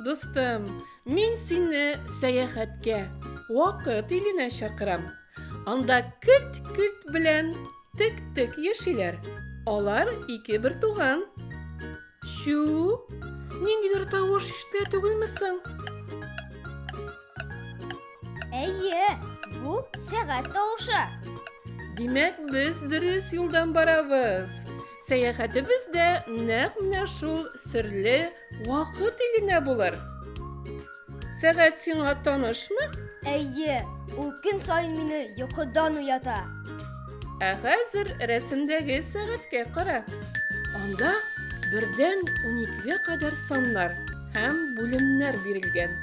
Дустым, мин сине сәяхәткә, вакыт иленә чакырам. Анда көлт-көлт белән Тек-тек яшиләр. Алар ике бер туган. Чү! Ниндидер тавыш ишетелә түгелме соң? Әйе, бу сәгать тавышы. Димәк, без дөрес юлдан барабыз. Сәяхәтебез дә нәкъ менә шул серле Вакыт иленә булыр. Сәгать сиңа танышмы? Әйе, ул көн саен мине йокыдан уята. Ә хәзер рәсемдәге сәгатькә кара. Анда бердән уникегә кадәр саннар һәм бүлемнәр бирелгән.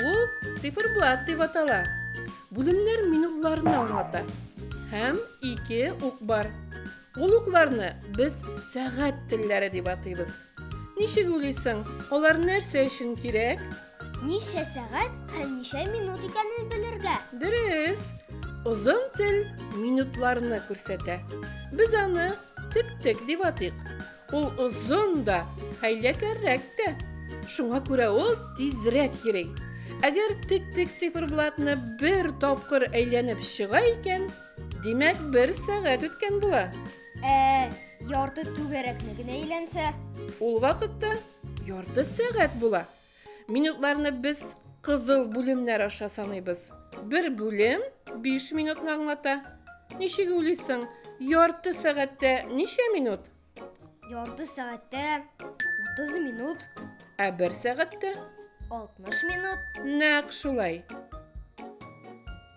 Ул циферблат дип атала. Бүлемнәр минутларны аңлата. Һәм ике ук бар. Ул укларны без сәгать телләре дип атыйбыз. Ничек уйлыйсың, алар нәрсә өчен кирәк? Ничә сәгать һәм ничә минут икәнен белергә. Дөрес. Озын тел минутларны күрсәтә. Без аны тек-тек дип атыйк. Ул озын да, хәйләкәррәк тә. Шуңа күрә ул тизрәк йөри. Әгәр тек-тек циферблатны бер тапкыр әйләнеп чыга икән, димәк, бер сәгать үткән була. Ә ярты түгәрәкне генә әйләнсә? Ул вакытта ярты сәгать була. Минутларны без кызыл бүлемнәр аша саныйбыз. Бер бүлем 5 минутны аңлата. Ничек уйлыйсың, ярты сәгатьтә ничә минут? Ярты сәгатьтә 30 минут, Ә бер сәгатьтә? 60 минут. Нәкъ шулай.